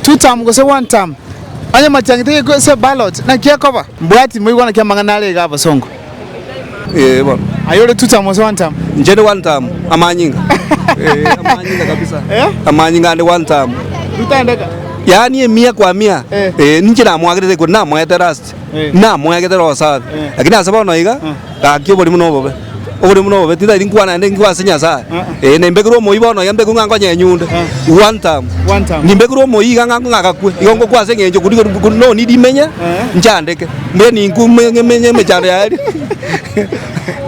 Tutam gose One Tam, onye omatiang'ete geko ase ballot naki ekoba? Mbwati moigwa naki amang'ana are iga abosongo. Ee bono. Aye ore Tutam gose One Tam? Inche ndi One Tam, amanyinga. Ee, amanyinga kabisa. Amanyinga ande One Tam. Rutandeka. Yaani emia kwa mia. Ee. Ee, ninche namoagerete ekori namoete last. Namoegete Roho Safi, lakini ase bono iga gaki oborimo na obobe. Oborimo na obobe titari nkwa naende nkwa ase Nyasae. Ee, nimbekirwe omoyio bono iga mbekwe ng'a nkonye enyunde, one time. Nimbekirwe omoyio iga ng'a ng'agakwe, igo ngokwa ase eng'encho kori kori kori no need menye nchandeke. Mbuya ninkwe menye emechando yaye.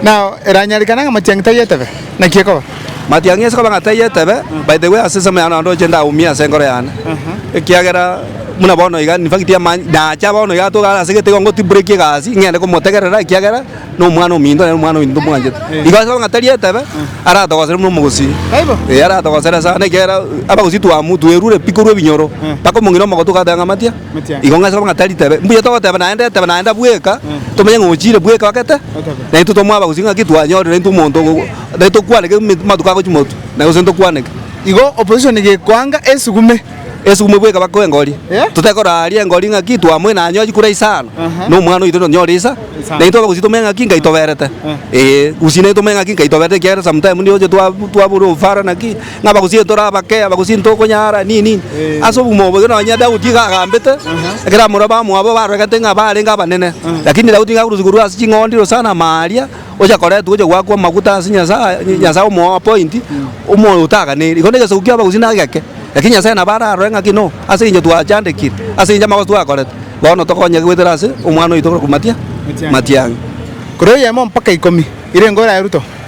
Now, eranyarekane ng'a amachang'iti ayio etebe. Naki ekoba? Matiang'i ase koba ng'a taiyo etebe, by the way, ase ensemo yane naende ochende aumie ase enkoro yane, ekiagera buna bono iga, in fact ama- nacha bono iga atoke are ase egete igo ngotibrekie egasi ing'ende komotegerera ekiagera nomwana ominto naende nomwana ominto tomwanchete. Igo ase koba ng'a tari etebe, aratogosere buna omogusii. Taibo? Ee, aratogosere sana ekiagera abagusii twamu twerure pi korwa ebinyoro, mpaka omong'ina omogotu ogateba ng'a matia. Igo ng'ache korwa ng'a tari tebe. Mbuya togoteeba naende tebe naende bweka, tomenye ng'a ochiire bweka ogete, na intwe twamwaba gose ng'aki twanyorire intwe omonto ogo ogo tari tokwaneke ime- matuko agochia motu, na gose ntokwaneke. Igo opposition gekoanga esugume. Esugume bweka bakoe engori. Eh? Totekora aria engori ng'aki twamoina anyochi kura isa ano. Aha. Na omwana oito tonyore isa. Isa. Na intwe abagusii tomenye ng'aki nkaitoberete. Eh. Ee, gusii naintwe tomenye ng'aki nkaitoberete ekiagera sometime ndio oche twa- twabura obufara naki. ng'a bagosinye tore abake, abagosinye tokonyara, nini nini. Ase obogima obo nonye Daudi iga agambete, ekero amorora bamwabo barwegete ng'a barenge abanene. Lakini Daudi iga akorosiwa korwa ase ching'ondi iro sana maaaria, gocha koretwa gocha goakwa amaguta ase Nyasaye, Nyasaye omoa appoint, omoyo otaganeri. Igo negesaku kia abagusii naki gake, lakini Nyasaye nabo ararore ng'a ki no, ase eng'encho twachandekire, ase eng'encho amagoso twakorete, bono tokonyeke goetera ase Omwana oito korokwa matia? Matiang'a. Korwa eyemo mpaka ikomi, ire engo eraye Ruto.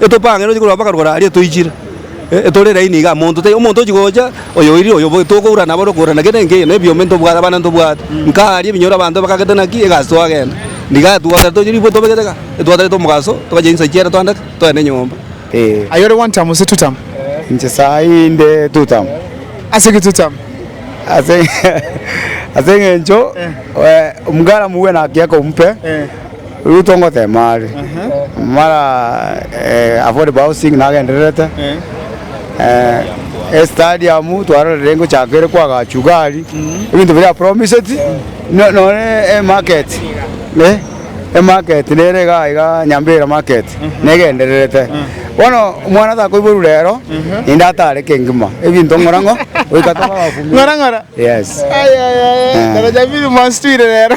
etopang'ire ochia korwa bakarokora aria toichire etore laini igaa monto taiyo omonto ochia gocha oyo oiri oyo boigo tokoura naboro okoura na kende na kende nebiombe ntobwate abana ntobwate nkaa aria ebinyoro abanto bakagete naki egasi twagenda nigaa twatagete tochia ribwe tobegete igaa etwatagete omogaso togachia chinsa chiera twandake togende nyomba ee. Aye ore one term gose two term? Inche saii inde two term. Ase ki two term? Ase ase eng'encho omogaramu bwena agiaka ompe. Ruto ngoteema are mara affordable housing nagendererete, estadium twarorire ngochaka ere kwa Gachugari, ebinto biria apromised, nonye emarket, emarket nere igaa igaa Nyambera market negendererete, bono omwana takoiborwa rero naende atare kengima, ebinto ng'ora ng'o goika tobe abafumia. Ng'ora ng'ora? Yes. Aye aye aye, daraja mbili mwanstwire rero.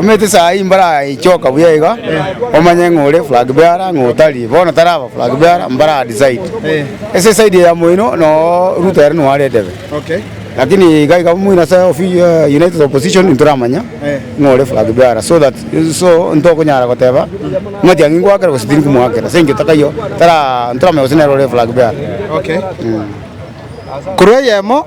Omanyete saa eye mbaraichoka buya iga, omanye ng'a ore flag bearer ng'a otari. Bono taraba flag bearer, mbara decide. Ase eside eye ya moino noo Ruto ere nigo aretebe. Lakini iga iga moino ase ofi united opposition ntoramanya ng'a ore flag bearer so that so ntokonyara goteba Matiang'i ngwakera gose tindi komwakera ase eng'encho takaiyo tara ntoramanya gose nere ore flag bearer. Korwa eyemo.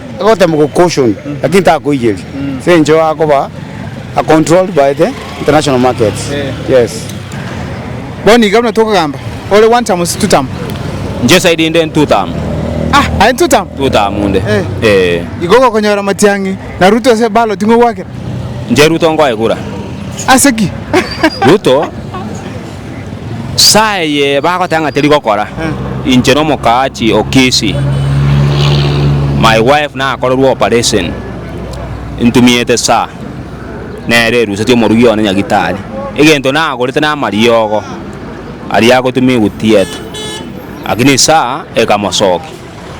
Agotemoka caution lakini takoigeri so encho akoba a controlled by the international markets yes. Bono iga buna tokogamba ore one term si two term. Inche side inde ni two term. Ah aye two term. Two term inde eeh. Igo ogokonyora Matiang'i na Ruto ase ballot ng'o gwakera? Inche Ruto ngoegura. Ase ki? Ruto. Saa eye bagoteba ng'a teri gokora, inche na omokaachi o Kisi, my wife nakorerwe operation, ntumiete saa, nere erusetie omorugi one nyagitari. Egento nagorete namariogo aria agotuma egotieta, lakini saa ekamosokia.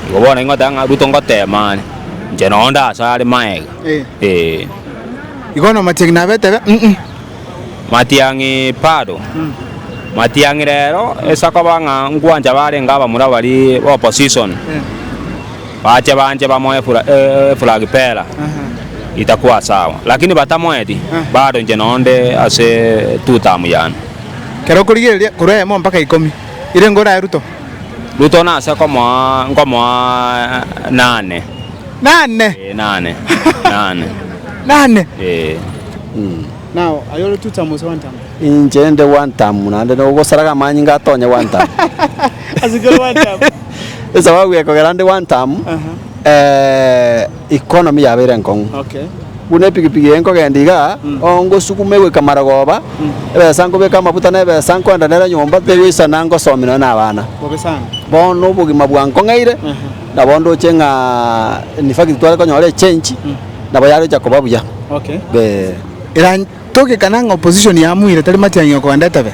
Igo bono ingoteba ng'a Ruto ngotema are, inche nao ndasare magega, eh. Igo namatiangi nabete be, mm. Matiang'i bado. Matiang'i rero ase akoba ng'a ngwancha barenge abamura baria ba opposition bache banche bamoe efla eflag pera itakwa sawa lakini batamoeti bado inche noyo nde ase two term yane. Kero okorigereria korwa eyemo mpaka ikomi ire nigo orae Ruto? Ruto nase komoa nkomoa nane. Nane? Ee nane nane. Nane? Ee. Inche nde gwantamu, naende nogosaraga amanyinga aa tonye gwantamu. Esababu gekogera nde gwantamu, economy yabeire enkong'u. Buna epikipiki eye nkogenda igaa, ongosuguma egoika marogoba, ebesa nkobeka amafuta na ebesa nkoenda nere nyomba tegoisana ngosomi nonye na abana. Bono obogima bwankong'eire, nabo ndoche ng'a in fact tware konyora echange. Nabo yarochia koba buya. Be. Eran togekana ng'a opposition yamuire tari Matiang'i okogenda etebe,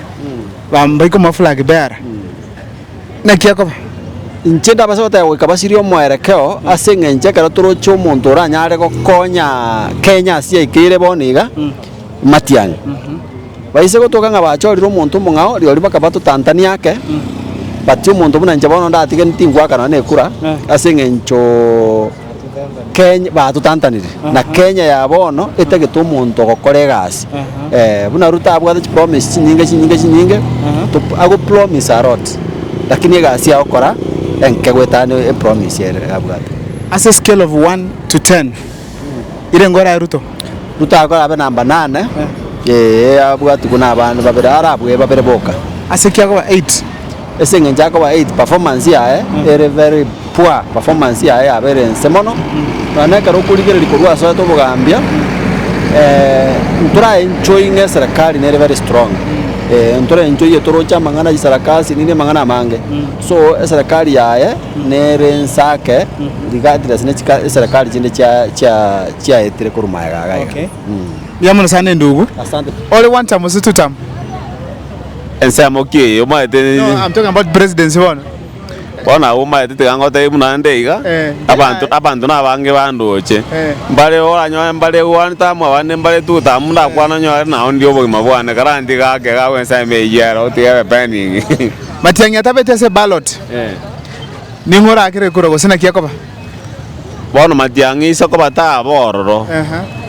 bambaika omoflag beara, naki ekoba? Inche ndabase goteba goika basirie omoerekeo ase eng'encho ekero toroche omonto oranyare gokonya Kenya ase yaikire ere bono iga, Matiang'i. Baise gotoka ng'a bachorire omonto omong'ao, rirorio bakaba totantani ake, but omonto buna inche bono ndatige ntingoaka nonya na ekura ase eng'encho. Kenya, batutantanire, na Kenya ya bono etagete omonto ogokora egasi eh, buna Ruto abwate chipromise chinyinge chinyinge chinyinge, to agopromise a lot, lakini egasi ya gokora enke goetana ne epromise ere abwate. Ase escale of one to ten, ire ngore aye Ruto? Ruto agokora abe number nane, eh, abwatigwe na abande babere, arabue babere boka. Ase kiagoba eight? Ase engencho akoba ait performance yaye ere very poor performance yaye yabeire ense mono nonya na ekero okorigereria korwa ase oete obogambia ntora enjoy ng'a eserikari nere very strong eh ntora enjoy toroche amang'ana chisarakasi nini amang'ana amange so eserikari yaye nere ense ake regardless ne chika eserikari chinde chia chia chiaetire korwa magega iga iga. Mbuya mono sana endugu. Asante. Ore one term gose two term? Ensemo ki eye omaete? No, I'm talking about presidency bono. Bono abwo omaete tiga ngotebie buna nde iga, Eh, abanto eh. abanto nabange bandoche, Eh. mbare oranyore mbare one time abande mbare two time ndakwana onyore nao ndire obogima bwane karanti gake gakwa ensemo eyio ero otigere pending. Matiang'i atabeti ase ballot, Eh. ning'o orakere kura gose naki akoba? Bono matiang'i aise kobataa bororo.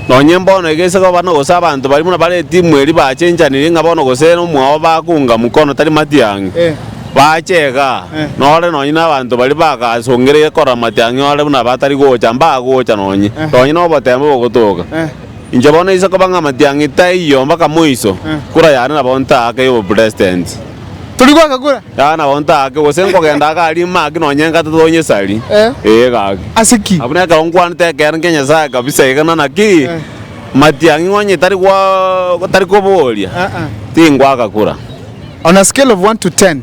Nonye mbono iga aise koba gose abanto baria buna bare etimu eria bachenchanirie ng'a bono gose nomwao bakunga mukono tari matiang'i, bache iga, nore nonye nabanto baria bagasongereire korora matiang'i ore buna batari gocha, mbagocha nonye, nonye nobotembo bogotoka. Inche bono isiko bang'a amatiang'i taiyo mbaka moiso, kura yane nabo ntaake y'oboprestenti. Turi goaka kura. Yane nabo ntaake, gose nkogenda agari maki nonye engato tonyesari. Ee gaki. Ase ki? Buna ekero nkwanete ekeene kia Nyasaye kabisa iga na naki matiang'i ngonye tari gwa tari koboria, tingoaka kura. On a scale of one to ten.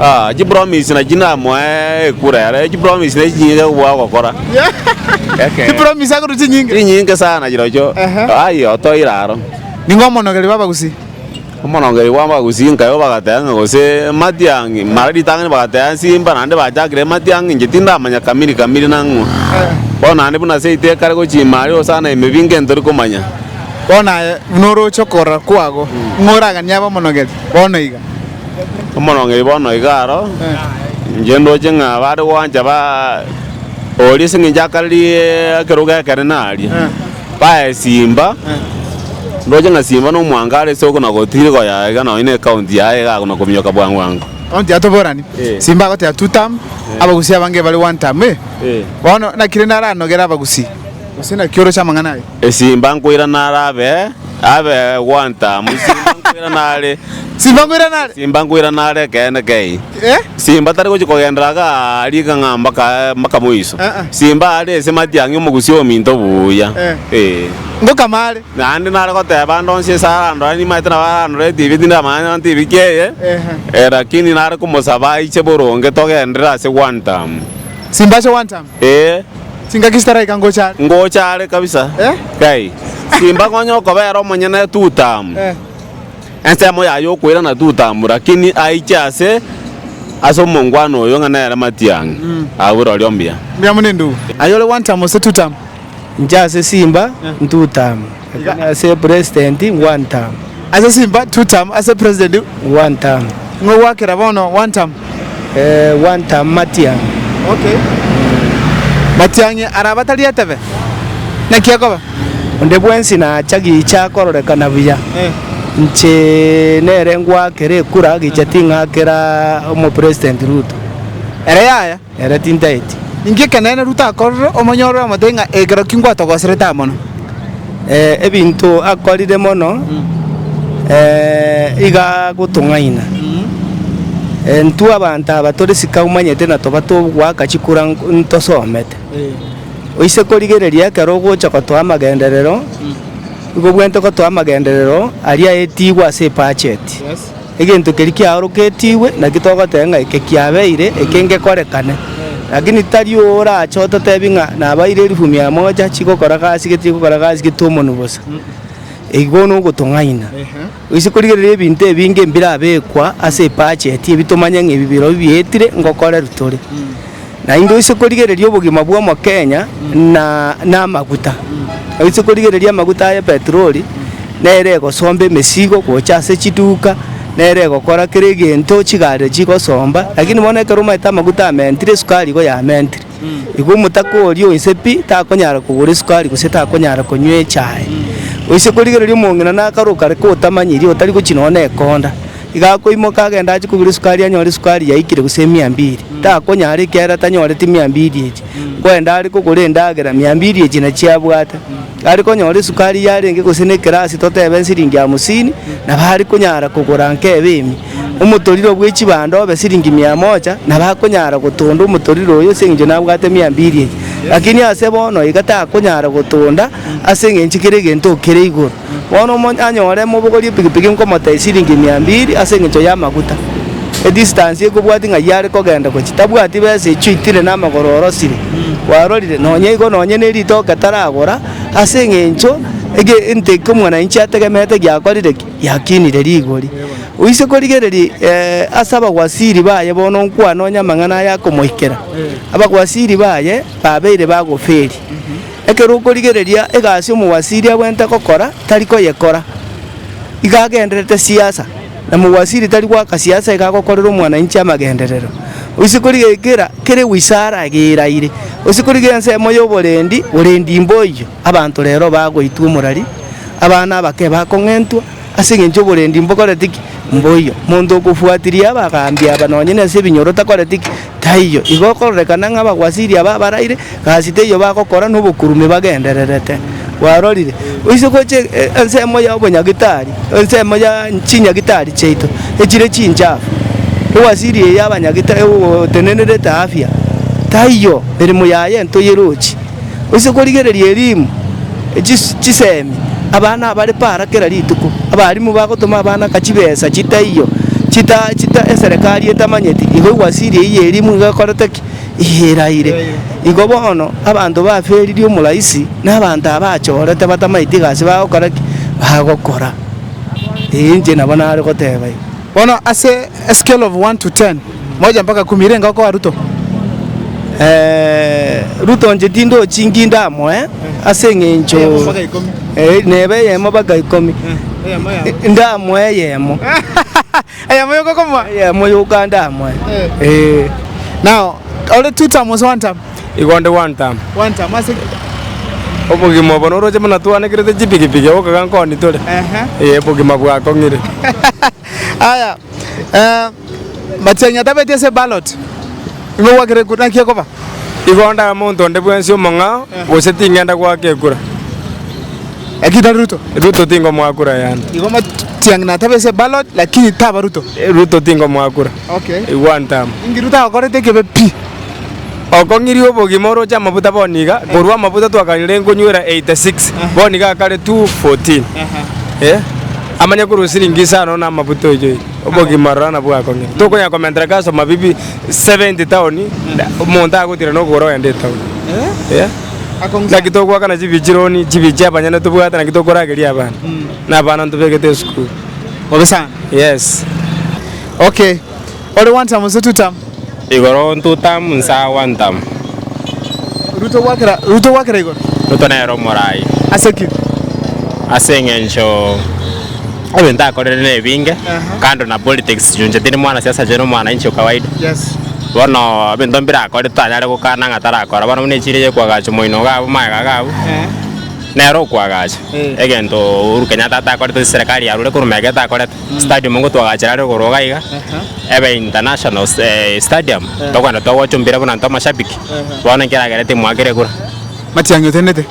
Ah, chipromise nachi namoe ekura yare. Echipromise nachi chinyinge chia kobua ogokora. Eke. Chipromise akorwa chinyinge. Chinyinge sana chirochio. Ehe. Ai otoire aro. Nigo omonogeri bw'abagusii. Omonongeri bw'abagusii nkae obagateba ng'a gose matiang'i mara ritang'ani bagateba nsimba naende bachakire matiang'i inche tindamanya kamiri kamiri nang'o. Bono naende buna ase eite ekare gochia ime aria osana ime binge nto ri komanya. Bono aye buna oroche okorora kwago ng'o oraganie abe omonogeri? Bono iga. Omorongeri bono iga aro, inche ndoche ng'a bare gwancha ba oria ase eng'encho akarie ekerogo ekere naria, baye Simba, ndoche ng'a Simba no mwango are ase okona gotiri koyaya iga nonye ne ekaunti yaye iga akona kominyoka bwango bwango. Ekaunti ya toborani, Eh. Simba agoteba two term, Abagusii abange bare one term, eh? Eh. Bono naki rende aranogere Abagusii? Gose naki oroche amang'ana aye? Esimba nkoirana are abe, abe gwantamu, Simba nkoirana are, Simba nkoirana are. Simba nkoirana are ekeene kei. Eh? Simba tari gochia kogendera iga riga ng'a mpaka mpaka moiso. Ah, ah. Simba are ase matiang'i omogusi ominto buya. Eh. Eh. Ngokama are. Naende nare goteba ande onsi ase arandora nimaete nabo arandore etibi tinde amanya nonye tibi ki eye. Ehe. Eh, lakini nare komosaba aiche boronge togendere ase gwantamu. Simba ase gwantamu. Ee. Chingaki chitaraika ngocha are. Ngocha are kabisa. Kai. Simba ng'onye okobera omonyene Tutamu. Ensemo yaye okoirana Tutamu lakini aiche ase ase omongwana oyo ng'a nere matiang'i. Agwo rorio mbuya. Mbuya mono endugu. Aye ore Wantamu gose Tutamu? Inche ase Simba, Ntutamu. Iga Lakini ase president one term, ase Simba two term, ase president one term, ng'o gwakera bono one term? eh, one term Matiang'i. Okay. Matiang'i araba tari etebe? Naki ekoba? Onde bwensi nacha gicha akororekana buya. Eh. Inche nere ngwakera ekura gicha ting'akera omo president Ruto. Ere yaya? Ere tintaeti. Inki ekeneene Ruto akorire omonyorore omote ng'a ekero ki ngwatogoserete aa mono? Eh, ebinto akorire mono, eh, iga agotong'aina. Eh, ntwe abanto aba tore sika omanyete na toba togoaka chikura nk- ntosomete. Oise korigereria ekero ogocha gotoa amagenderero, igo bwente gotoa amagenderero aria aetigwe ase ebacheti. Egento keria kiaoroketigwe naki togoteba ng'a eke kiabeire, eke ngekorekane. Lakini titari orache ototebi ng'a nabaire elifu mia moja chigokora gasi gete chigokora gasi gete omonu bosa. Eki bono ogotong'aina. Gose korigereria ebinto ebinge mbirabekwa ase ebudget ebi tomanye ng'a ebi birobio bietire ngokorerwa tore. Naende oise korigereria obogima bw'omokenya na namaguta. Oise korigereria amaguta aye petroli, nere egosomba emesigo gocha ase chiduka, nere egokora kera egento chigari chigosomba, lakini bono ekero omanyete amaguta amentire esukari igo yamentire. Igo omotaka oria oise pi, takonyara kogora esukari gose takonyara konywa echae. Oise korigereria omong'ina nakaroka are kotamanyiri otari gochi nonya na ekonda. Iga akoimoka agende achie kogura esukari anyore esukari yaikire gose emia mbiri. Takonyara ekiagera tanyoreti mia mbiri echio. Kwende are kogora endagera mia mbiri echio nachio abwate. Are konyora esukari yarenge gose ne ekerasi totebe nsiringi hamsini nabo are konyara kogora nkebe emia. Omotorire bwe chibando obe siringi mia moja nabo akonyara gotonda omotorire oyo ase eng'encho nabwate mia mbiri echio. Lakini ase bono iga takonyara gotonda ase eng'encho kera egento kere igoro. Bono omonyanyore mobogorie epikipiki nkomotee chiliingi mia mbili ase engencho y'amaguta. Edistance eye kobwati ng'ai are kogenda gochia, tabwati besa echio itire namagoro orosire. Kwarorire? Nonya igo nonya nerito oketaragora ase engencho ege ente eke omwananchi ategemeete giakorire ki? Giakinire rigori. Oise korigereria eeh ase abagwasiri baye bono nkwane onye amang'ana aya akomoikera, abagwasiri baye babeire bagoferia. Ekero okorigereria egasi omowasiri agwente gokora tari koyekora, iga agendererete siasa, na mowasiri tari goaka siasa iga agokorera omwananchi amagenderero. Oise korigereria kera kere wizara iga eraire, oise korigereria ensemo y'oborendi, borendi mboiyo, abanto rero bagoitwa omorari, abana abake bakong'entwa, Ase engencho oborendi mbokorete ki? Mboiyo. Monto okofuatiria abagaambi aba nonye nase ebinyoro takoreti ki? Taiyo. Igo okororekana ng'a abagwasiri aba abaraire gasi teiyo bagokora nobokurume bagendererete. Bwarorire? Oise gocha ensemo ya obonyagitari, ensemo ya chinyagitari chiaito echire chinchafu, ewasiri eye y'abanyagitari egotenenerete afya. Taiyo. Eremo yaye ntoyerochi. Oise korigereria erimu chisemi abana abare para kera rituko. Abarimu bagotoma abana ka chibesa chitaiyo chita chita eserekari etamanyeti igo ewasiri eye ya erimu iga ekorete ki? Iga eraire. Igo bono abanto baferirie omoraisi na abanto abachorete batamaeti egasi bagokora ki? Bagokora. Ee inche nabo nare goteba igo. Bono ase a scale of one to ten. Moja mpaka kumi renge okoa Ruto eeh Ruto nche tindochi nki ndamoe ase eng'encho Eyemo mpaka ikomi. eh, neba eyemo mpaka ikomi Eyemo yamo. Eh, ndamoe eyemo Eyemo yokokomoa. eyemo yoka ndamoe eh. Now ore two term gose one term? Igo onde one term. One term ase ki? Obogima obo noroche buna twanekerete chipikipiki gokaga nkoni tore. Ehe. Eh, obogima bwakong'ire. Aya eh, Matiang'i atabeti ase eballot, nigo gwakire ekura, naki ekoba? Igo onde abe omonto onde bwensi omong'ao, gose ting'enda goaka ekura. Lakini tari Ruto. Ruto tingomoa kura yane. Igo Matiang'i natabe ase eballot lakini taba Ruto. Ruto tingomoa kura. Okay. I one term. Inki Ruto agokorete ekebe pi? Okong'iria obogima oroche amafuta bono iga, korwa amafuta twakarire nkonywera 86, bono iga akare 214. Eeh. Amanye korwa siringi isano na amafuta oichoire. Obogima rora nabwo akong'ina. Tokonyara komentereka ase amabibi 70 town, omonto agotira nokogora ogende etown. Eeh. Naki togoakana chibichi loan, chibichi abanyene tobwate naki tokorageria abana. Na abana ntobegete esukuru. Bobe sana. Yes. Okay. Ore one term gose two term? Igoro Tutam nsa wa Ntam. Ruto gwakera Ruto gwakera igoro. Ruto nere omorai. Ase ki? Ase eng'encho ebinto akorire nebinge kando na politics chunche tindi mwana siasa inche nomwanainchi o kawaida. Yes. Bono ebinto mbire akore totanyare gokana ng'a tarakora bono buna echiro ya kwagacha omoino iga abwo amaega iga abwo nere okwagacha egento Uhuru Kenyatta atakorete ase serikali yarure korwa mega etakorete. Stadium nigo twagachera are igoro iga iga, ebe international stadium, tokoenda togocha ompira buna intwe amashabiki, bono ekero agere timu ake ere kura. Matiang'i otenete?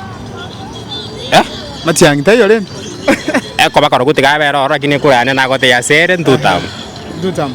Eh? Matiang'i taiyo rende? Ekoba korogotiga abere ororo lakini ekura yane nagotebia ase ere ntutam. Ntutam.